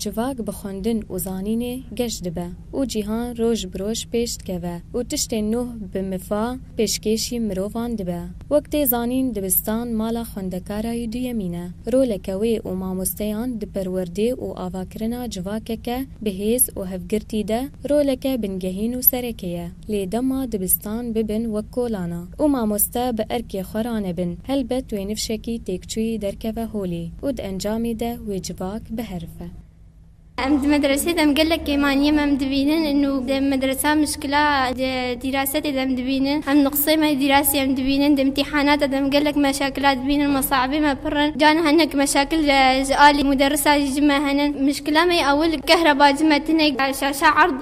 Civak bi xwendin û zanînê geş dibe û cîhan roj bi roj pêş dikeve û tiştên nûh bi mifa pêşkêşî mirovan dibe. Wek tê zanîn dibistan mala xwendekarayî duyemîn e. Roleke wê û mamosteyan di perwerdê û avakirina civakeke bi hêz û hevgirtî de roleke bingehîn û serekê ye. Lê dema dibistan bibin wek kolana û mamoste bi erkê xwe ranebin, helbet wê nifşekî têkçûyî derkeve holê û di encamê de wê civak biherife. Em di medresê de em gelek kêmaniyê me em dibînin û di medresa mişkila di dîrasetê de em dibînin. Em di qisey me dîrasî em dibînin. Di îmtîhanata de em gelek meşakila dibînin. Mesabê me pir in. Carên hinek meşakil ji alî muderisa jî ji me henin. Mişkila me ya ewil kehreba ji me tune şaşa erd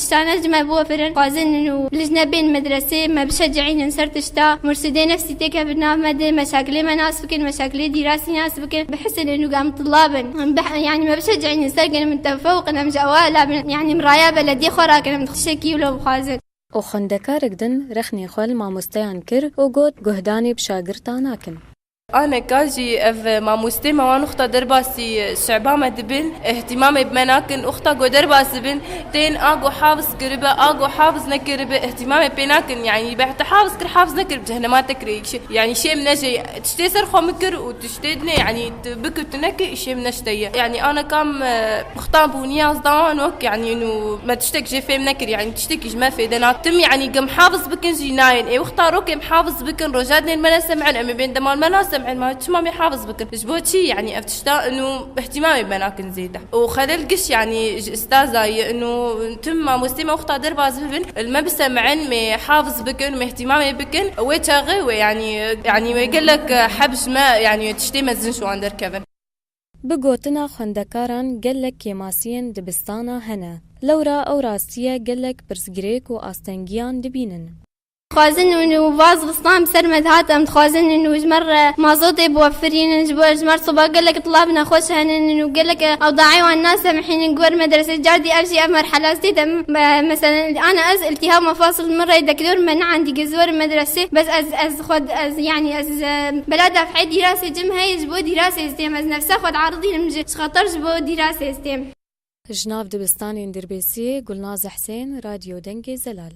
Tiştan ez ji me biwefirin, xwazin min û lijne bên medresê, me bişecihînin ser tişta, mursûdê nefsî têke bi nav me de, me şakilê me nas bikin, me şakilê dîrasî nas bikin, bihisilin û gam tilla bin. Yanî me bişecihînin ser gelê min tefewqin, em ji ewa ela bin, yanî em raya belediyê xwe rakin, em tiştekî wilo bixwazin. Û xwendekarek din rexnê xwe li mamosteyan kir û got, Guhdanê bi şagirtan nakin. Aneka jî ev mamosteyê me wan oxta derbasî şeba me dibin, îhtîmamê bi me nakin, oxta ku derbas dibin tên a ku hafiz kiribe, a ku hafiz nekiribe îhtîmamê pê nakin. Yanî beh te hafiz kir, hafiz nekir bi cehenema te kir ê îşê. Yanî şêm nejê tiştê ser xwe min kir û tiştê din ê yanî tu bikir tu nekir îşê min ne ji te ye. Yanî aneka em. Xtan bû niyaz da nok yanî nû me tiştek jê fêm nekir yanî tiştekî ji me fêde na tim yanî gem hafiz bikin jî nayên ê wexta rok êm hafiz bikin rojadnên me ne sem'in em ê bên deman me na sem'in ma çima mê hafiz bikin ji bo çî yanî ev tişta nû îhtimaê me nakin zêde û xelel giş yanî ji istaza ye nû tim mamostê me wexta derbas bibin li me bi sem'in mê hafiz bikin mê îhtimaê bikin wê çaxê wê yanî yanî wê gelek heb ji me yanî tiştê mezin ji wan derkevin. Bi gotina xwendekaran gelek kêmasiyên dibistana hene. Lewra ew rastiye gelek pirsgirêk û astengiyan dibînin. Dixwazin û nûva zibistan bi ser me dihat. Em dixwazin û hûjmer re mazotê biwefirînin. Ji bo hejmar soba gelek tila bi nexweş henin û gelek ewdayê wan nasemhînin. Ku ber medresê car dî ev jî ev merhele ez tê de me. Meselên ana ez îltîhab mafasl min rey dekdor me niandî ku ez werim medresê bes ez Xwed ez yanî ez bela def'ê dîrasê cim heye ji bo dîrasê ez têm ez nefsa xwed aridînim ji xeter ji bo dîrasê ez têm. Ji nav dibistanên Dirbêsiyê Gulnaz Husên, Radyo Dengê Zelal.